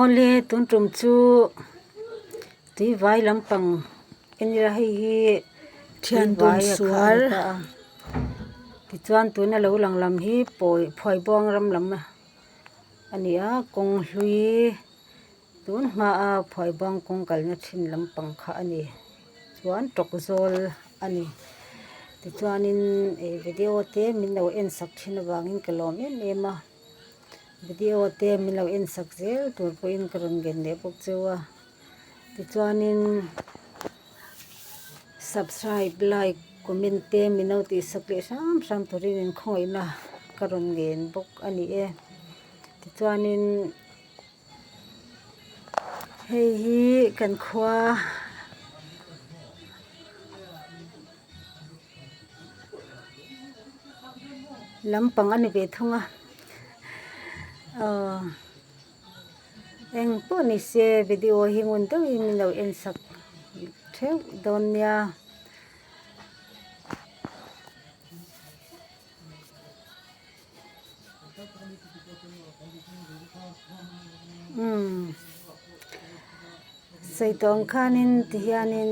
Only tun tum chu tui vai lampang enira hei hi thian dun sual tichuan tuna lo lang lam hi pawi phuai bawng ram lam a ni a kawng hlui tun hma a phuai bawng kawng kalna thin lampang kha a ni chuan tawk zawl a ni tichuanin video te min lo en sak thin avangin ka lawm em em a. video te min lo en sak zel tur pawhin ka rawn gen leh bawk chu a tichuanin subscribe like comment te min lo tih sak leh hram hram turin in khawihna ka rawn ngen bawk a ni e tichuanin hei hi kan khua a. lam pang a ni ve thung a aw eng pawh ni se video hi ngun deuh in min lo en sak theuh dawn nia. Sawi tawng khan in ti hian in.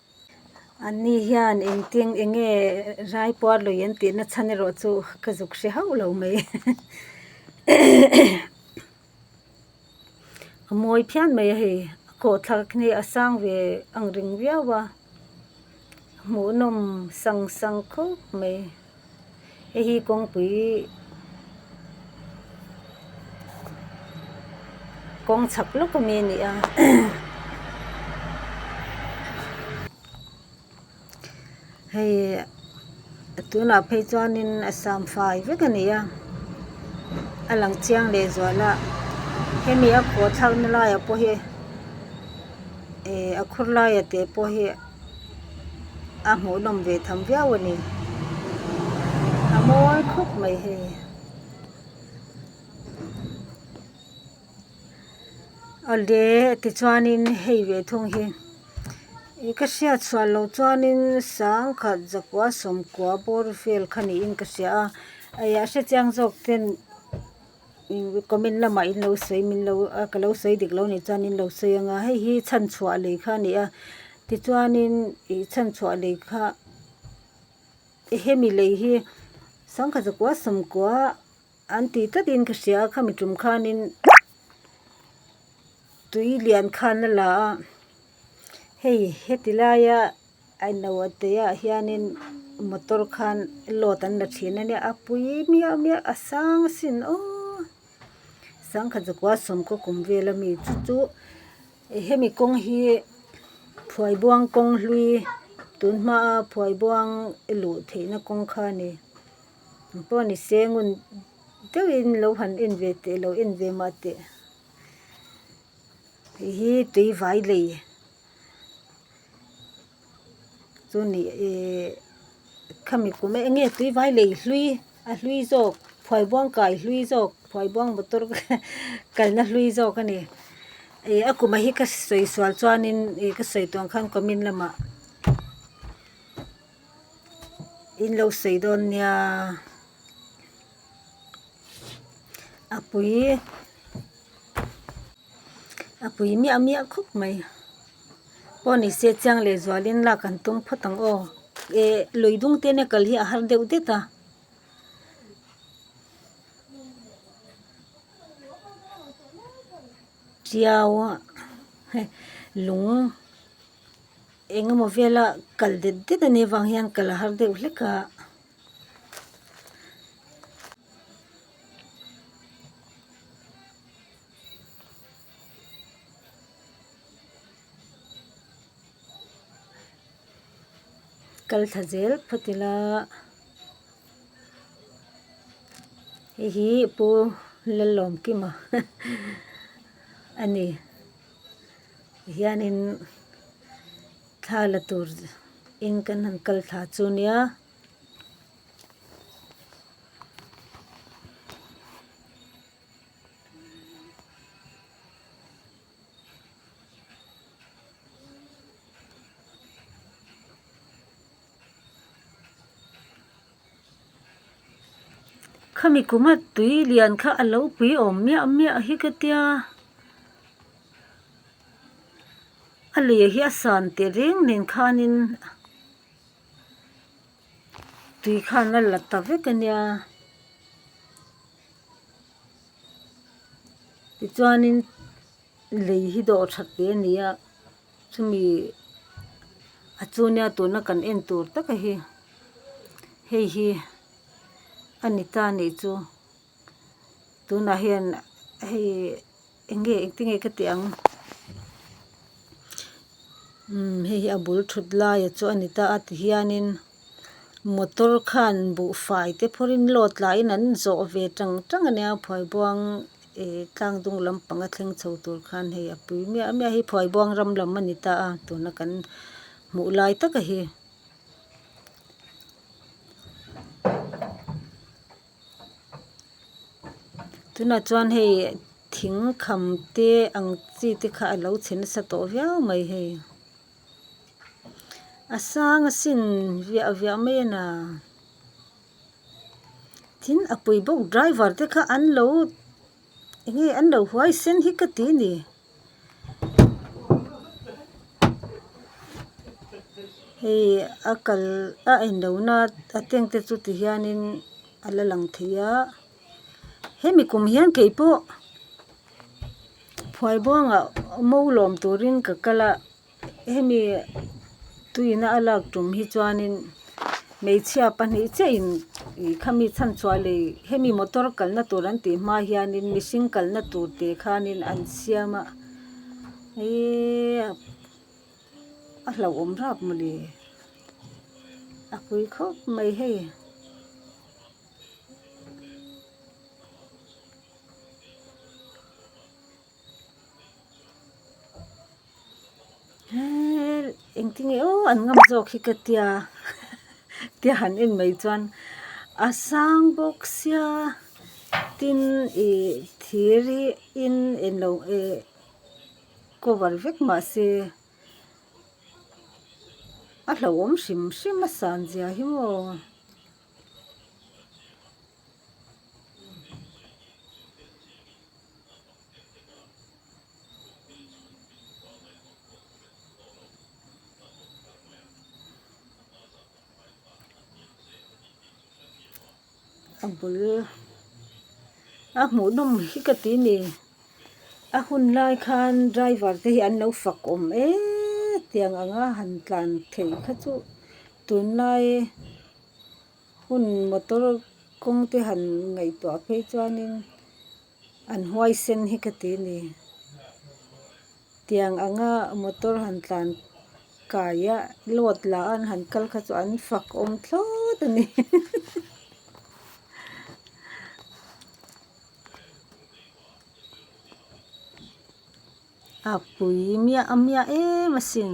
An ni hian engtin enge rai puar lui an tih nachhan erawh chu ka zuk hre hauh lo mai a mawi phian mai a hei a kawhthlak hi a sang ve ang reng viau a a hmuhnawm sang sang khawp mai. Heihi kawngpui kawng chak lawk ami a nia. Hei a tunah phei chuanin a sam fai vek a nia. A lang chiang leh zual a. Hemi a khuathlakna laia pawh hi, a khur laia teh pawh hi. a hmuhnawm ve tham viau a ni. A mawi khawp mai hei. Awle tichuanin hei ve thung hi i ka hriat chhuah lo chuanin sangkhat zakua sawmkua bawr vel kha niin ka hria a. Eia a hrechiang zawk ten. Comment lamah in lo sawi min lo a ka lo sawi dik lo a nih chuan in lo sawi anga hei hi chhan chhuah lei kha a ni a tichuanin ih chhan chhuah lei kha hemi lei hi sangkhat zakua sawmkua an tih tlakin ka hria a khami tum khanin tui lian khan a la a hei heti laia-- Ailo teiah hianin motor khan load an la thin ania a pui miau miau a sang a sin aw sangkhat zakua sawmkaw kum vela mi chu chu hemi kawng hi phuaibuang kawng hlui tun hmaa phuaibuang luh theihna kawng kha a ni mi pawh ni se ngun deuhin lo han en ve teh lo en ve mah teh hei hi tui vai lei. chu ni e khami kum e enge tui vai lei hlui a hlui zawk phuai buang kai hlui zawk phuai buang motor kalna hlui zawk a ni e a kum hi ka sawi sual chuan in e ka sawi tawn khan comment lamah in lo sawi dawn nia a pui-- a pui miah miah khawp mai pawh ni se chiang leh zual in lak an tum phawt ang aw eh lui dung te nen kal hi a har deuh det a tiau a he lung eng emaw vel a kal det det a nih avang hian kal a har deuh hlek a. Kal thla zel phawt ila hei hi pu Lalawm kim a a ni ti hianin thla la tur in kan han kal thla chu nia. khami kuma tui lian kha a lo pui awm miah miah hi ka tia a leh hi a san teh reng nen khan in. Tui khan a la ta vek a nia. Tichuanin lei hi dawh that leh a ni a, chumi a chu nia tuna kan en tur taka hi hei hi a ni ta neih chu. tunah hian hei enge engti nge ka tih ang imm hei hi a bul thut lai chu a ni ta a ti hianin motor khan buhfai te phawrin load la in an zawh ve tang tang a nia phuai buang ihh tlang dung lam panga thleng chho tur khan hei a pui miah miah hi phuai buang ram lam a ni ta a tuna kan hmuh lai taka hi. tunah chuan hei thing kham te ang chi te kha a lo chhe nasa tawh viau mai hei a sang a sin viah viah mai a na tin a pawi bawk driver te kha an lo-- Enge an lo huaisen hi ka ti ni. Hei a kal a en lo na a tank te chu ti hianin a la lang thei a hemi kum hian kei pawh phuai bawngah mo lawm turin ka kal a. Hemi tuina a lak tum hi chuanin hmeichhia pahnih chiahin ih khami chhanchhuah lei hemi motor kalna tur an tih hma hianin mihring kalna tur teh khanin an siam a ihh a hlauhawm rap maw ni a kui khawp mai hei. engtinge aw an ngam zawk hi ka tia tia han en mai chuan a sang bawk sia tin ih thir hi in en lo eh cover vek mah se a hlauhawm hrim hrim a san zia hi maw. a bul a hmuh nawm hi ka ti ni a hun lai khan driver te hi an lo fak awm eeeee tiang anga han tlan theih kha chu tunlai-- Hun motor kawngte han ngaihtuah phei chuanin an huaisen hi ka ti a ni. Tiang anga motor han tlan kai a, load la an han kal kha chu an fak awm thlawt a ni. A pui miah miah em asin.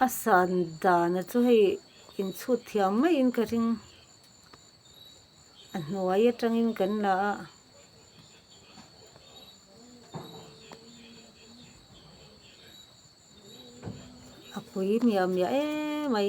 A san dana chu hei inchhut thiam maiin ka ring a hnuai atangin kan la a. A pui miah miah emai.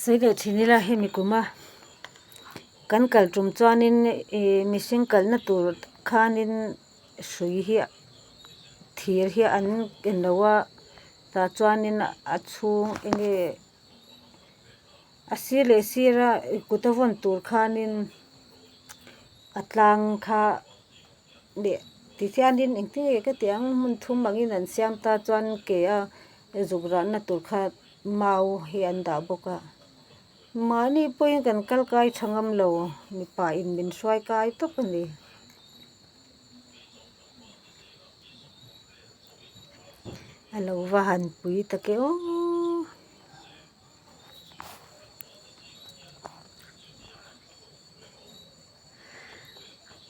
Saideh thin ila hemi kuma kan kal tum chuanin ih mihring kalna tur khanin hrui hi thir hi an en lo a tah chuanin a chhung enge a sir leh sira kut a vawn tur khanin a tlang kha-- leh tihianin engtin nge ka tih ang hmun thum angin an siam ta chuan ke a zuk rahna tur kha mau hi an dah bawk a mahni pawhin kan kal kai tha ngam lo mipa in min hruai kai tawp a ni.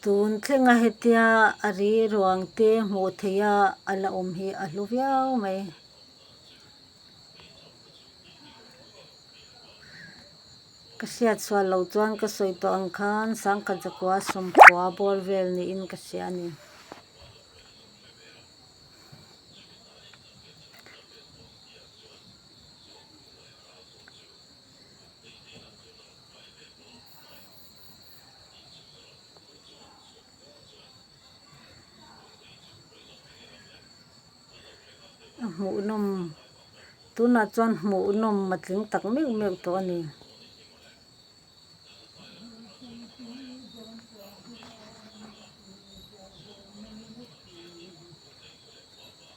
Tun tlenga hetia a rilruang te hmuh theia a la awm hi a hlu viau mai. Ka hriat sual lo chuan ka sawi tawh ang khan Sangkhat Zakua sawmkhua bawr vel niin ka hria a ni. a hmuhnawm tunah chuan hmuhnawm a tling tak meuh meuh tawh a ni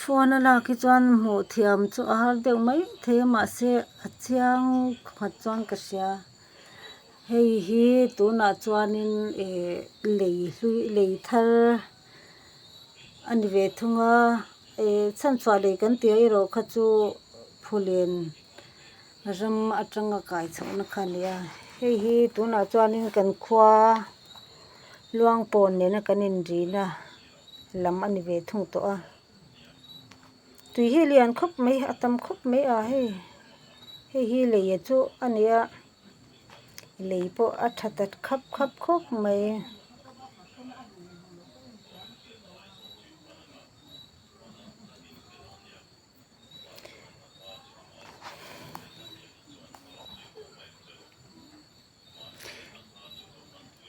Phone a lak hi chuan hmuh thiam chu a har deuh mai thei a mahse a chiang khat chuan ka hria hei hi tunah chuanin eh lei hlui lei thar a ni ve thung a eh chhanchhuah lei kan tia erawh kha chu phulen ram atanga kai chhohna kha a ni a hei hi tunah chuanin kan khua luangpawn nena kan inrin a. lam a ni ve thung tawh a tui hi lian khawp mai a tam khawp mai a hei hei hi leia chu a ni a lei pawh a tha ta khap khap khawp mai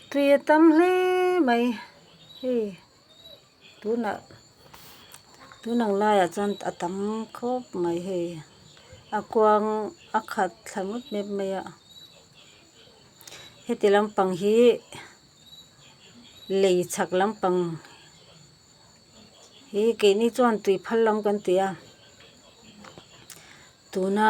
tui a tam hle mai hei tunah tun ang laiah chuan a tam khawp mai hei a kuang a khat thla ngawt ngawt mai a heti lampang hi lei chhak lampang hi keini chuan tui phal lam kan ti a tuna.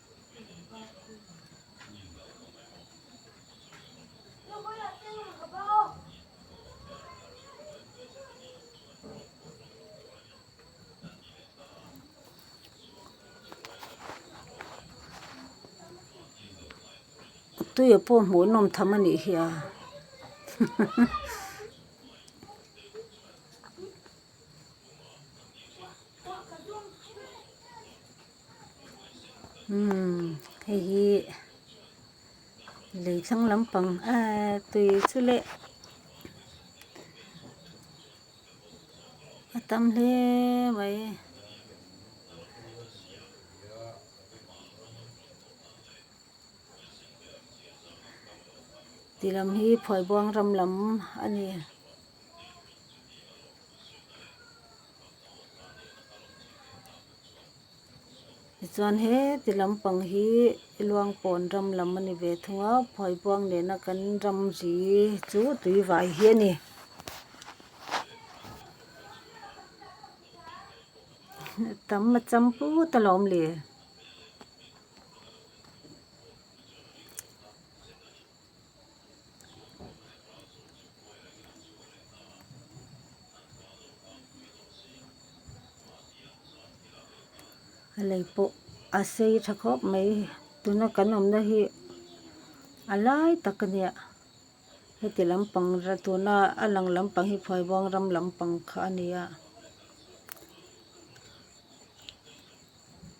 Tuia pawh hmuh nawm tham a nih hi a. Umm hei hi lei thlang lampang eee tui chu leh a tam hle mai e. Ti lam hi Phuaibuang ram lam a ni. Tichuan heti lampang hi Luangpawn ram lam a ni ve thung a, Phuaibuang nena kan ram ri chu Tuivai hi a ni. Tam macham put a lo awm le. A lei pawh a sei tha khawp mai tuna kan awmna hi a lai tak a nia heti lampang tuna a lang lampang hi Phuai Buang ram lampang kha a ni a.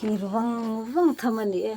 thir vang vang tham a ni e.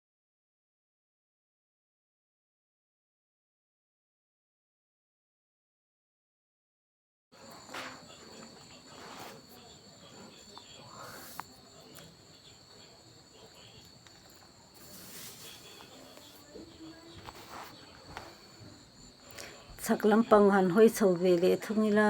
chhak lampang han hawi chho ve leh thung ila.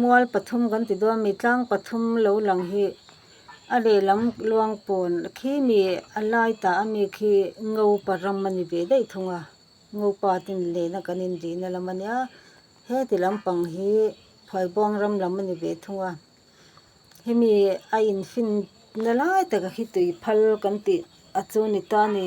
Mual pathum kan ti dawn a, mi tlang pathum lo lang hi a lehlam luang pawn khi mi a lai ta a mi khi Ngopa ram a ni ve daih thung a, Ngopa ten lehna kan inrihna lam a nia, heti lampang hi Phuaibuang ram lam a ni ve thung a, hemi a infinna lai taka khi tui phal kan tih a chu ni ta ni.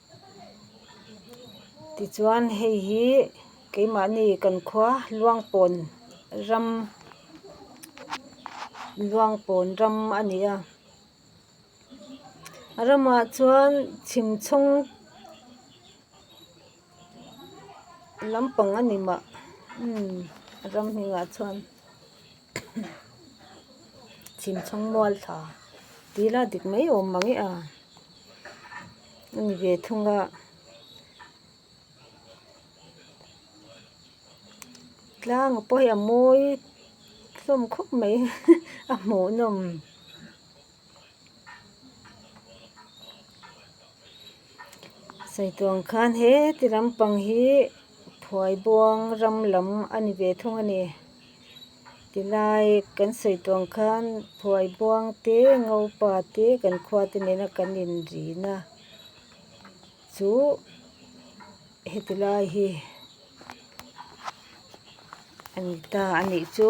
Tichuan hei hi keimahni kan khua Luangpawn ram Luangpawn ram a ni a. A ramah chuan chhimchhawng lampang a ni mah umm ram hnenah chuan. chim chhawng mual thla ti la dik mai awm mang e a a ni ve thung a tlang a pawh hi a mawi hlawm khawp mai a hmuhnawm. Saitluang khan heti lampang hi phuaibuang ram lam a ni ve thung a ni ti lai kan saitluang khan phuaibuang te ngopa te kan khua te nena kan inrin a chu heti lai hi a ni ta a nih chu.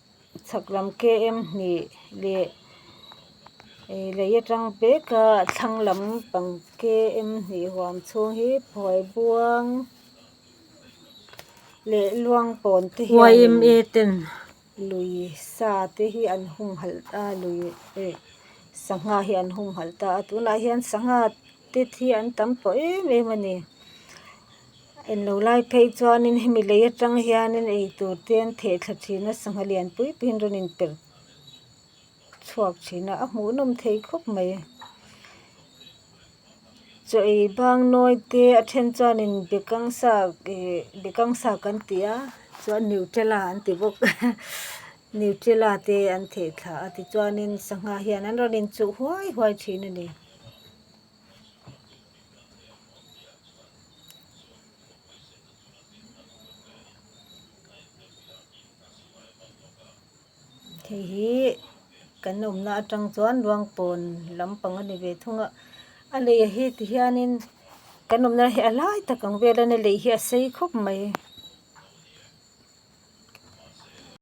Chhakram KM hnih leh lei atang peka thlang lampang KM hnih huam chhung hi Phuai Buang leh Luangpawn te hianin YMA ten lui sa te hi an hung halh a lui eh sangha hi an hung halh ta a tunah hian sangha te hi an tam tawh em em a ni. En lo lai phei chuanin hemi lei atanga hianin eitur te an thehthlak thin a sangha lian pui puiin rawn in perh chhuak thin a a hmuh nawm thei khawp mai chaw ei bang nawi te a then chuanin bekang sak ih bekang sak an ti a chuan neutrela an ti bawk neutrela te an thehthlak a tichuanin sangha hian an rawn in chuh huai huai thin a ni. Hei hi kan awmna atang chuan Ruangpawn lam pang a ni ve thung a, a lei ah hi ti hianin kan awmna hi a hlai tak ang vel a ni a lei hi a sei khawp mai.